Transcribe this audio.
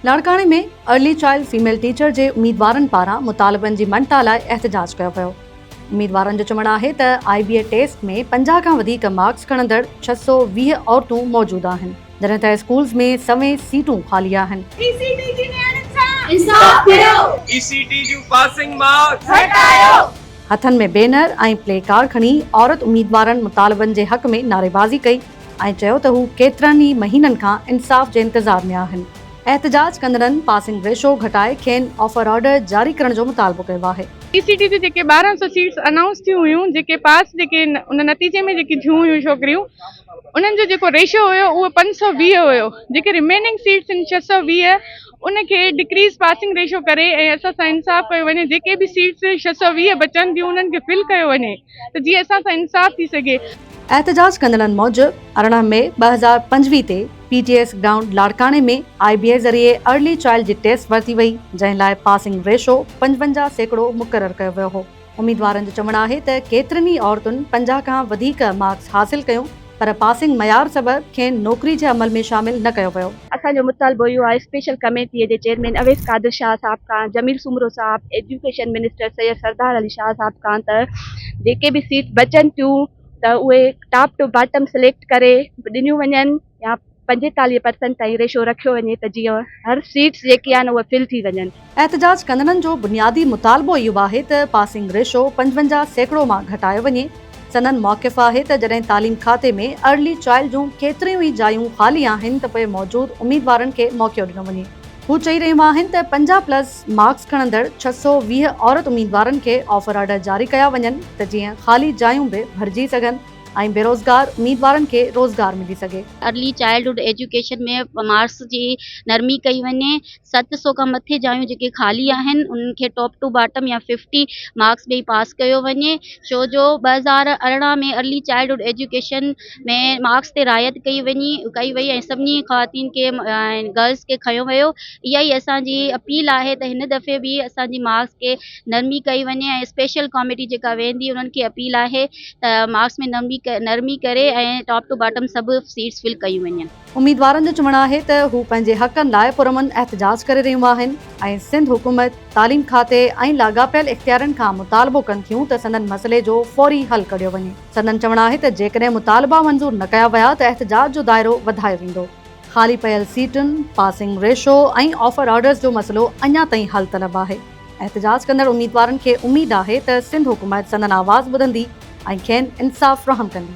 لاڙڪاڻي ۾ early child female teacher جي اميدوارن پاران مطالبن جي مڃتا لاء احتجاج ڪيو ويو. اميدوارن جو چوڻ آهي ته آء بي اي ٽيسٽ ۾ پنجاهه کان وڌيڪ مارڪس کڻندڙ ڇهه سؤ ويهه عورتون موجود آهن جڏهن ته اسڪولز ۾ سوين سيٽون خالي آهن. اي سي ٽي جي نياڻين سان انصاف ڪيو. اي سي ٽي جون پاسنگ مارڪس گهٽايو. هٿن ۾ بينر ۽ پلي ڪارڊ کڻي عورت اميدوارن مطالبن جي حق ۾ نعريبازي ڪئي ۽ چيو ته هو ڪيترن ئي مهينن کان انصاف جي انتظار ۾ آهن. احتجاج ڪندڙن پاسنگ ريشو گهٽائي کين آفر آرڊر جاري ڪرڻ جو مطالبو ڪيو آهي. پي سي ٽي جون جيڪي ٻارهن سؤ سيٽس انائونس ٿيون هيون جيڪي پاس جيڪي ان نتيجي ۾ جيڪي ٿيون هيون ڇوڪريون انهن جو جيڪو ريشو هيو اهو پنج سؤ ويهه هيو جيڪي رميننگ سيٽس آهن ڇهه سؤ ويهه ان کي ڊڪريز پاسنگ ريشو ڪري ۽ اسان سان انصاف ڪيو وڃي جيڪي به سيٽس ڇهه سؤ ويهه بچن ٿيون انهن کي فل ڪيو وڃي ته جيئن اسان سان انصاف ٿي سگهي. احتجاج ڪندڙن موجب ارڙهن مئي ٻه هزار پنجويهه تي پي ٽي ايس گرائونڊ لاڙڪاڻي ۾ آء بي اي ذريعي ارلي چائلڊ جي ٽيسٽ ورتي وئي جنهن لاء پاسنگ ريشو پنجونجاهه سيڪڙو مقرر ڪيو ويو هو. اميدوارن جو چوڻ آهي ته ڪيترين ئي عورتن پنجاهه کان وڌيڪ مارڪس حاصل ڪيو پر پاسنگ معيار سبب کين نوڪري جي عمل ۾ شامل نه ڪيو ويو. اسان جو مطالبو اهو آهي اسپيشل ڪميٽي جي چيئرمين اويس قادر شاهه صاحب کان، جميل سومرو صاحب، ايجوڪيشن منسٽر سيد سردار علي شاهه صاحب کان ته جيڪي به سيٽ بچن ٿيون ته اهي ٽاپ ٽو باٽم سليڪٽ ڪري ڏنيون وڃن. يا پنجيتاليهه پرسينٽ تائين ريشو رکيو وڃي ته جيئن هر سيٽس جيڪي آهن اهي فل ٿي وڃن. احتجاج ڪندڙن جو بنيادي مطالبو اهو آهي ته پاسنگ ريشو پنجونجاهه سيڪڙو مان گهٽايو وڃي، سندن موقف آهي ته جڏهن تعليم کاتي ۾ ارلي چائلڊ جون ڪيتريون ئي جايون خالي آهن ته پوء موجود اميدوارن کي موقعو ڏنو وڃي. هو چئي رهيون آهن ته پنجاهه پلس مارڪس کڻندڙ ڇهه سؤ ويهه عورت اميدوارن کي آفر آرڊر جاري ڪيا وڃن ته جيئن خالي جايون به ڀرجي سگهن. ۽ بيروزگار اميدوارن کي روزگار ملي سگهي. ارلي چائلڊهوڊ ايجوڪيشن ۾ مارڪس جي نرمي ڪئي وڃي، ست سؤ کان مٿي جايون جيڪي خالي آهن انهن کي ٽاپ ٽو باٽم يا ففٽي مارڪس ڏئي پاس ڪيو وڃي ڇو جو ٻه هزار ارڙهن ۾ ارلي چائلڊهوڊ ايجوڪيشن ۾ مارڪس تي رعايت ڪئي وئي ۽ سڀني خواتين کي ۽ گرلس کي کنيو ويو اها ئي اسان جي اپيل آهي ته هن دفعي به اسان جي مارڪس کي نرمي ڪئي وڃي ۽ اسپيشل ڪاميٽي جيڪا ويهندي انهن کي اپيل آهي ته مارڪس ۾ نرمي ڪري ۽ ٽاپ ٽو باٽم سڀ سيٽس فل ڪيون وڃن. اميدوارن جو چوڻ آهي ته هو پنهنجي حقن لاء پرامن احتجاج ڪري رهيون آهن ۽ سنڌ حڪومت، تعليم کاتي ۽ لاڳاپيل اختيارين کان مطالبو ڪن ٿيون ته سندن مسئلي جو فوري حل ڪڍيو وڃي. سندن چوڻ آهي ته جيڪڏهن مطالبا منظور نه ڪيا ويا ته احتجاج جو دائرو وڌايو ويندو. خالي پيل سيٽن، پاسنگ ريشو ۽ آفر آرڊرز جو مسئلو اڃا تائين حل طلب آهي. احتجاج ڪندڙ اميدوارن کي اميد آهي ته سنڌ حڪومت سندن آواز ٻڌندي ۽ کين انصاف فراهم ڪندي.